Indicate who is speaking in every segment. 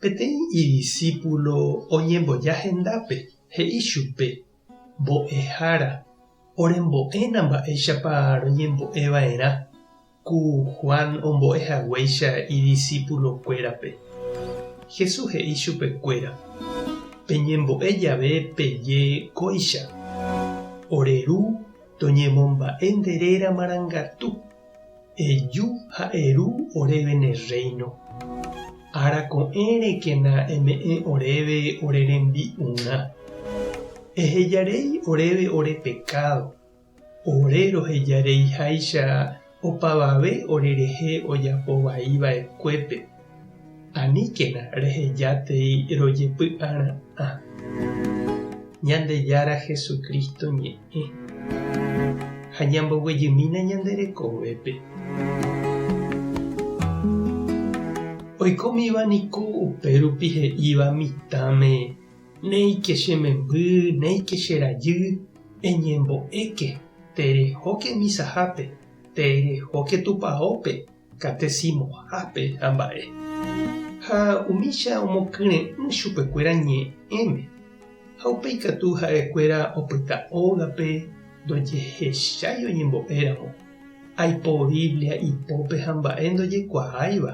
Speaker 1: Peteĩ idisípulo oñemboja hendápe, he'i chupe, Mbo'ehára, orembo'éna mba'éichapa roñembo'eva'erã ku Juan ombo'e haguéicha idisípulokuérape. Jesús he'i chupekuéra, Peñembo'e jave peje kóicha, Ore Ru toñemomba'e nde réra marangatu. Eju ha eru oréve ne rréino. Ára ko'ẽ rekena eme'ẽ oréve ore rembi'urã. Ehejarei oréve ore pekádo, ore rohejareiháicha opavave orerehe ojapo vai va'ekuépe. Aníkena rehejatei rojepy'ara'ã Ñandejára Jesucristo ñe'ẽ ha ñamboguejymína ñande rekovépe. Oikómiva niko upérupi he'íva mitãme, Néike che memby, néike che rajy, eñembo'éke, terejóke misahápe, terejóke tupaópe, Katesimohápe ha mba'e. Ha umícha omokyre'ỹ chupekuéra ñe'ẽme, ha upéi katu ha'ekuéra opyta ógape ndojehechái oñembo'éramo, aipo Biblia ipópe ha mba'e ndojekuaáiva,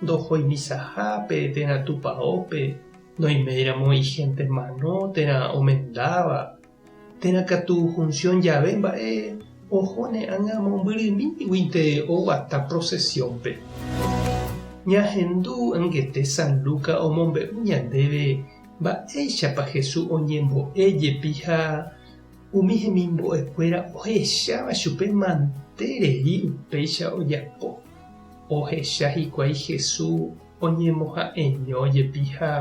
Speaker 1: ndohói misahápe térã tupaópe, noiméiramo igénte mano térã omendáva, Térã katu función jave mba'e, oho ne ág̃a mombyrymíguinte oguata procesión-pe. Ñahendu angete San Lucas omombe'u ñandéve mba'éichapa Jesús oñembo'e jepi ha umi hemimbo'ekuéra ohecháva chupe mante rei upéicha ojapo. Ohecha hikuái Jesús oñemoha'eño jepi ha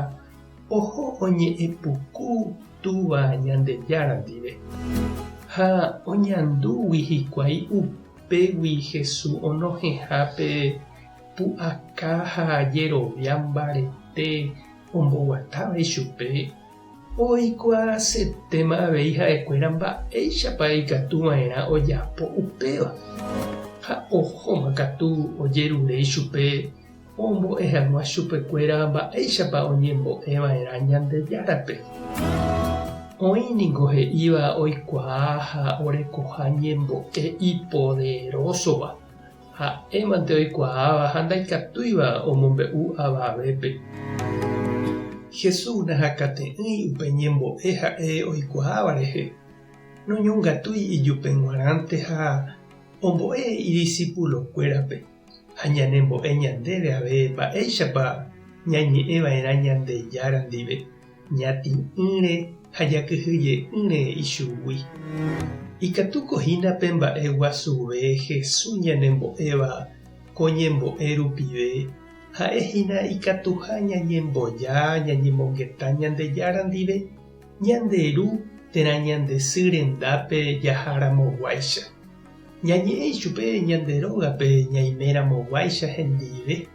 Speaker 1: oho oñe'ẽ puku Túva Ñandejára ndive. Ha oñandúgui hikuái upégui Hesu onohẽha pe pu'aka ha jerovia mbarete omboguatáva ichupe, oikuaasetéma avei ha'ekuéra mba'éichapa ikatu va'erã ojapo upéva, ha ohóma katu ojerure ichupe Ombo'e hag̃ua chupekuéra mba'éichapa oñembo'e va'erã Ñandejárape. Oĩ ningo he'íva oikuaa ha orekoha ñembo'e ipoderósova, ha'émante oikuaáva ha ndaikatúiva omombe'u avavépe. Jesús nahakate'ỹi upe ñembo'e ha'e oikuaáva rehe, noñongatúi ijupe g̃uarãnte ha ombo'e idisipulokuérape. Ha ñanembo'e ñandéve avei mba'éichapa ñañe'ẽva'erã Ñandejára ndive, ñatĩ'ỹre ha jakyhyje'ỹre ichugui. Ikatúko hína pe mba'e guasuve Jesús ñanembo'éva ko ñembo'e rupive, ha'e hína ikatuha ñañemboja ñañemongeta Ñandejára ndive, ñande Ru térã ñande sy rendápe jaharamoguáicha. Ñañe'ẽ ichupe ñande rógape ñaimeramoguáicha hendive,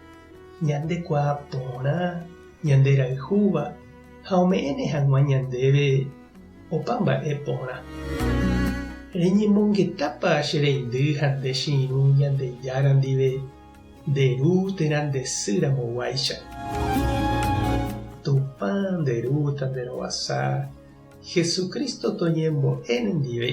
Speaker 1: ñandekuaa porã, ñanderayhúva ha ome'ẽne hag̃ua ñandéve opa mba'e porã. Reñemongetápa che reindy ha nde che irũ Ñandejára ndive nde ru térã nde sy ramoguáicha. Tupã nde Ru ta nde rovasa, Jesucristo toñembo'e nendive,